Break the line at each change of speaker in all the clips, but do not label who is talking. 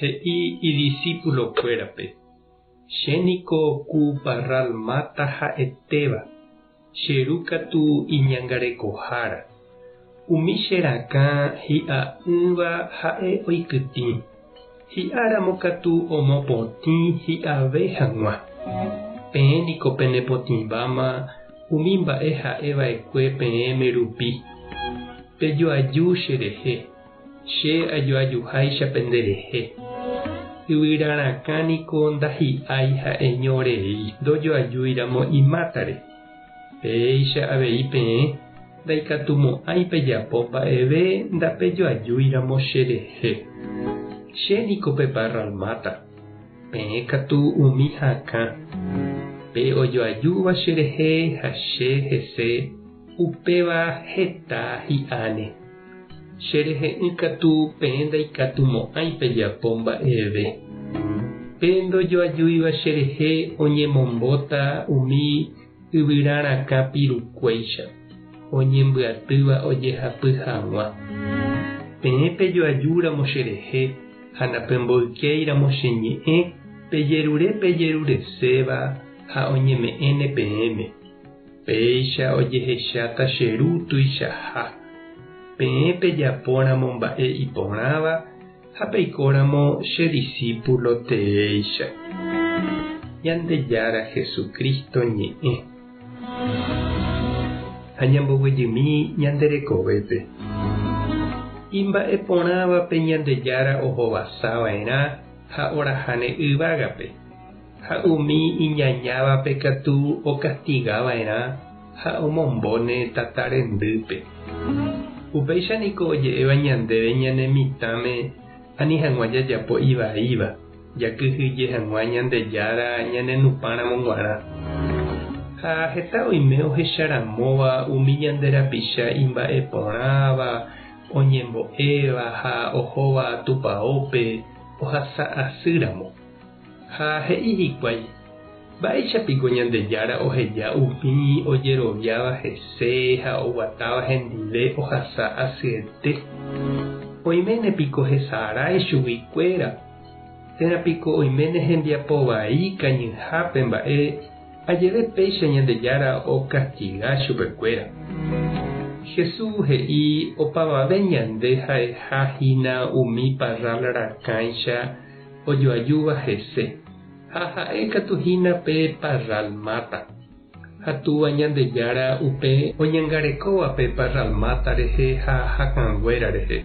He'i idisipulokuérape, Che niko ku parral máta ha'etéva, che ru katu iñangarekohára. Umi che rakã hi'a'ỹva ha'e oikytĩ, hi'áramo katu omopotĩ hi'ave hag̃ua. Peẽ niko penepotĩváma umi mba'e ha'e va'ekue peẽme rupi. Pejoaju cherehe. Che ajoajuháicha pende rehe, yvyra rakã niko ndahi'ái ha'eño rei ndojoajúiramo imátare. Péicha avei peẽ ndaikatumo'ãi pejapo mba'eve ndapejoajúiramo che rehe. Che niko peparralmáta, peẽ katu umi hakã. Pe ojoajúva cherehe ha che hese, upéva heta hi'áne. Che rehe'ỹ katu peẽ ndaikatu mo'ãi pejapo mba'eve. Pe ndojoajúiva che rehe oñemombóta umi yvyra rakã pirukuéicha, oñembyatýva ojehapy haguã. Peẽ pejoaju ramo che rehe ha napemboykéi ramo che ñe'ẽ pejerure pejerureséva ha oñeme'ẽne peẽme. Péicha ojehecháta che Ru tuichaha. Peẽ pejapóramo mba'e iporãva ha peikóramo che disípulo teéicha. Ñandejára Jesucristo ñe'ẽ. Ha ñamboguejymi ñande rekovépe. Imba'eporãvape Ñandejára ohovasava'erã ha orahane yvágape. Ha umi iñañávape katu okastiga va'erã ha omombo ne tata rendýpe. Upéicha niko oje'éva ñandéve ñane mitãme ani hag̃ua jajapo ivaíva, jakyhyje hag̃ua Ñandejára ñanenupãramo g̃uarã. Ha heta oime ohecharamóva umi ñande rapicha imba'eporãva, oñembo'éva ha ohóva Tupaópe ohasa asýramo. Ha he'i hikuái, Mba'éicha piko Ñandejára oheja umi ojeroviáva hese ha oguatáva hendive ohasa asyete? Oiméne piko hesarái chugui kuéra? Térã piko oiméne hembiapo vai kañyhápe mba'e ajeve péicha Ñandejára okastiga chupe kuéra? Hesu he'i opavave ñande ha'eha hína umi parrál rakãicha ojoajúva hese, ha ha'e katu hína pe Parralmata. Ha Túva Ñandejára upe oñangarekóva pe Parralmata rehe ha hakãnguéra rehe.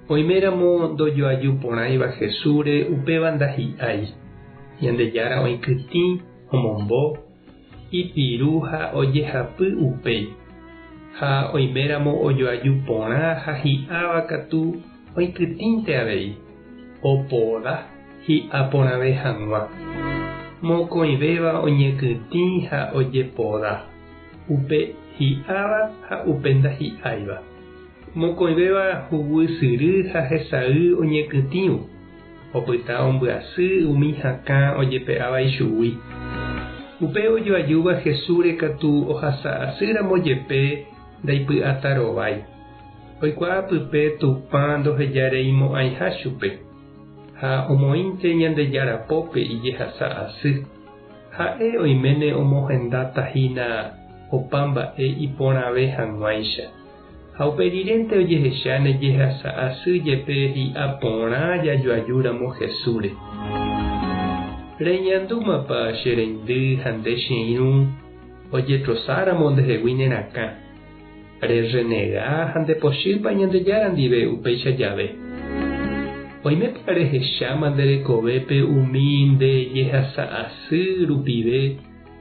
Oiméramo ndojoaju porãiva Jesúsre upéva ndahi'ái. Ñandejára oĩkytĩ omombo ipiru ha ojehapy upéi, ha oiméramo ojoaju porã ha hi'ãva katu oikytĩnte avei, opoda hi'a porãve hag̃ua. Mokõivéva oñekytĩ ha ojepoda, upe hi'ãva ha upe ndahi'áiva. Mokõivéva huguy syry ha hesay oñekytĩvo. Opyta ombyasy umi hakã ojepe'áva ichugui. Upe ojoajúva Hesúre katu ohasa asy ramo jepe ndaipy'áta rovái. Oikuaa pype Tupã ndoheja rei mo'ãiha chupe. Ha omoĩnte Ñandejára pópe ijehasa asy. Ha'e oiméne omohendatahína opa mba'e iporãve hag̃uáicha. Ha upe rirente ojehecha ne jehasa asy jepe hi'a porã jajoaju ramo Jesúsre. Reñandúmapa che reindy ha nde che irũ ojetrosa ramo nde hegui ne rakã? Re renega ha nde pochýpa Ñandejára ndive upéicha jave? Oimépa re hecháma nde rekovépe umi nde jehasa asy rupive